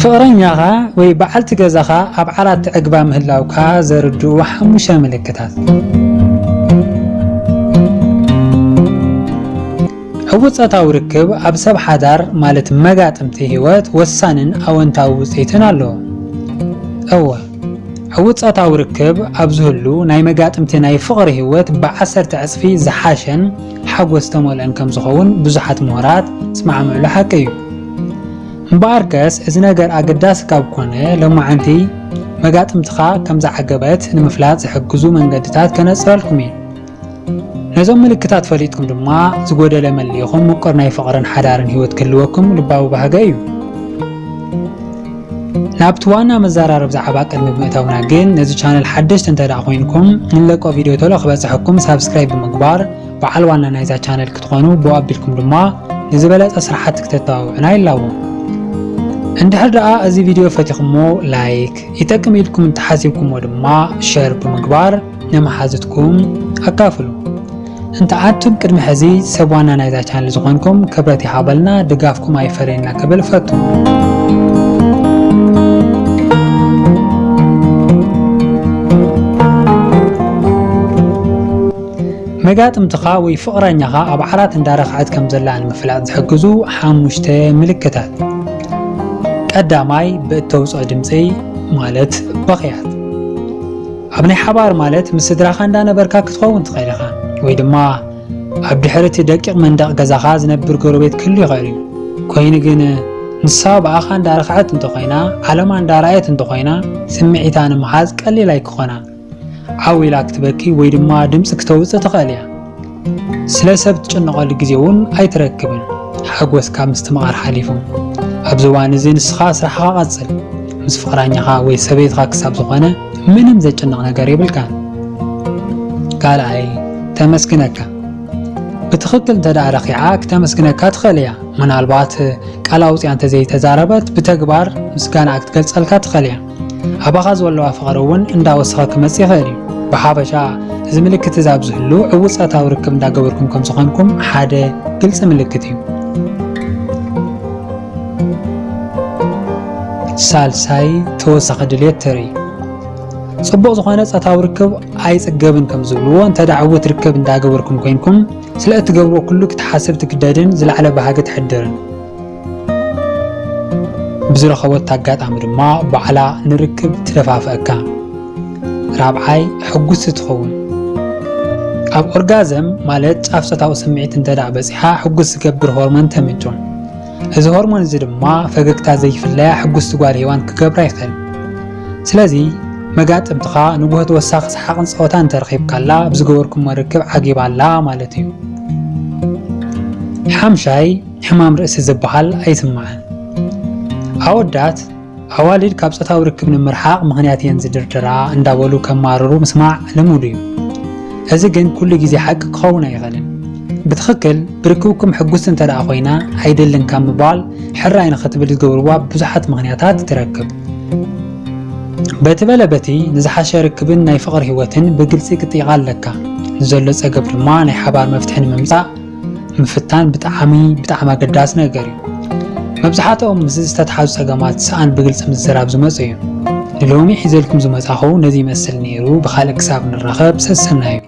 ፍቕረኛኻ ወይ በዓልቲ ገዛኻ ኣብ ዓራት ትዕግባ ምህላውካ ዘርድኡ ሓሙሽተ ምልክታት። ዕዉት ጾታዊ ርክብ ኣብ ሰብ ሓዳር ማለት መጋጥምቲ ህይወት ወሳንን ኣወንታዊ ውጽኢትን ኣለዎ። እወ። ዕዉት ጾታዊ ርክብ ኣብ ዝህሉ ናይ መጋጥምቲ ናይ ፍቕሪ ህይወት ብዓሰርተ ዕጽፊ ዝሓሸን ሓጎስ ዝተመልኦን ከም ዝኸውን ብዙሓት ምሁራት ዝስማዕምዕሉ ሓቂ እዩ። እምበኣርከስ እዚ ነገር ኣገዳሲ ካብ ኮነ ሎማዓንቲ መጋጥምትኻ ከም ዝዓገበት ንምፍላጥ ዝሕግዙ መንገድታት ከነጽረልኩም እዩ። ነዞም ምልክታት ፈሊጥኩም ድማ ዝጎደለ መሊእኹም ምቁር ናይ ፍቕርን ሓዳርን ህይወት ክህልወኩም ልባዊ ባህገ እዩ። ናብቲ ዋና መዘራረብ ዛዕባ ቅድሚ ምእታውና ግን ነዚ ቻነል ሓደሽቲ እንተ ደኣ ኮይንኩም ንለቆ ቪድዮ ቶሎ ክበጽሐኩም ሳብስክራይብ ብምግባር በዓል ዋና ናይዛ ቻነል ክትኾኑ ብኡ ኣቢልኩም ድማ ንዝበለጸ ስራሕቲ ክተተባብዑና ይላቦ። እንድሕር ደኣ እዚ ቪድዮ ፈቲኹሞ ላይክ፣ ይጠቅም ኢልኩም እንተሓሲብኩሞ ድማ ሸር ብምግባር ንመሓዙትኩም ኣካፍሉ። እንተዓቱብ ቅድሚ ሕዚ ሰብ ዋና ናይዛ ቻነል ዝኾንኩም ክብረት ይሃበልና ድጋፍኩም ኣይፈለየና ክብል እፈቱ። መጋጥምትኻ ወይ ፍቕረኛኻ ኣብ ዓራት እንዳረኽዐት ከም ዘላ ንምፍላጥ ዝሕግዙ ሓሙሽተ ምልክታት ቀዳማይ ብእተውፅኦ ድምፂ ማለት በኽያት ኣብ ናይ ሓባር ማለት ምስ ስድራኻ እንዳ ነበርካ ክትኸውን ትኽእል ኢኻ ወይ ድማ ኣብ ድሕሪ እቲ ደቂቕ መንደቕ ገዛኻ ዝነብር ጎረቤት ክህሉ ይኽእል እዩ ኮይኑ ግን ንሳ ብኣኻ እንዳ ረኽዐት እንተ ኾይና ዓለማ እንዳ ረኣየት እንተ ኾይና ስምዒታ ንምሓዝ ቀሊል ኣይክኾና ዓው ኢላ ክትበኪ ወይ ድማ ድምጺ ክተውጽእ ትኽእል እያ ስለ ሰብ ትጭነቐሉ ግዜ እውን ኣይትረክብን ሓጎስካ ምስትምቓር ሓሊፉ። ኣብዚ እዋን እዚ ንስኻ ስራሕኻ ቀጽል፣ ምስ ፍቕራኛኻ ወይ ሰበይትኻ ክሳብ ዝኾነ ምንም ዘጭንቕ ነገር የብልካን። ካልኣይ ተመስግነካ ብትኽክል እንተደኣ ረኺዓ ክተመስግነካ ትኽእል እያ። ምናልባት ቃል ኣውፂኣ እንተዘይተዛረበት ብተግባር ምስጋናኣ ክትገልፀልካ ትኽእል እያ። ኣባኻ ዝወለዋ ፍቕሪ እውን እንዳወሰኸ ክመጽእ ይኽእል እዩ። ብሓፈሻ እዚ ምልክት እዚ ኣብ ዝህሉ ዕዉት ጻታዊ ርክብ እንዳገበርኩም ከም ዝኾንኩም ሓደ ግልጺ ምልክት እዩ። ሳልሳይ ተወሳኺ ድሌት ተርኢ ጽቡቕ ዝኾነ ጸታዊ ርክብ ኣይጽገብን ከም ዝብልዎ እንተ ዕውት ርክብ እንዳገበርኩም ኮንኩም ስለ እትገብርዎ ኩሉ ክትሓስብ ትግደድን ዝለዓለ ባህጊ ትሕድርን ብዝረኸበት ኣጋጣሚ ድማ ባዕላ ንርክብ ትደፋፍኣካ፣ ራብዓይ ሕጉስቲ ትኸውን። ኣብ ኦርጋዘም ማለት ጫፍ ጾታዊ ስምዒት እንተደኣ በጺሓ ሕጉስ ዝገብር ሆርሞን ተምንጩ። እዚ ሆርሞን እዚ ድማ ፈገግታ ዘይፍለያ ሕጉስቲ ጓል ሄዋን ክገብራ ይኽእል። ስለዚ መጋጥምትኻ ንጉሆ ተወሳኺ ሰሓቕን ጸወታን እንተረኺብካላ ብዝገበርኩሞ ርክብ ዓጊባ ኣላ ማለት እዩ። ሓምሻይ ሕማም ርእሲ ዝበሃል ኣይስማዕን። ኣወዳት፣ ኣዋልድ ካብ ጾታዊ ርክብ ንምርሓቕ ምኽንያት እየን ዝድርድራ እንዳበሉ ከማርሩ ምስማዕ ልሙድ እዩ። እዚ ግን ኩሉ ግዜ ሓቂ ክኸውን ኣይኽእልን። ብትኽክል ብርክብኩም ሕጉስቲ እንተደኣ ኮይና ኣይደልን ካብ ምባል ሕራይ ንኽትብል ዝገብርዋ ብዙሓት ምኽንያታት ትረክብ። በቲ በለ በቲ ንዝሓሸ ርክብን ናይ ፍቕሪ ህይወትን ብግልጺ ክትጠይቓ ኣለካ። ንዘሎ ጸገብ ድማ ናይ ሓባር መፍትሒ ንምምጻእ ምፍታን ብጣዕሚ ብጣዕሚ ኣገዳሲ ነገር እዩ። መብዝሓትኦም ምስዚ ዝተትሓዙ ጸገማት ሰኣን ብግልጺ ምዝራብ ዝመጹ እዮም። ንሎሚ ሒዘልኩም ዝመጻኹ ነዚ ይመስል ነይሩ ብኻልእ ክሳብ ንራኸብ ሰሰናዩ።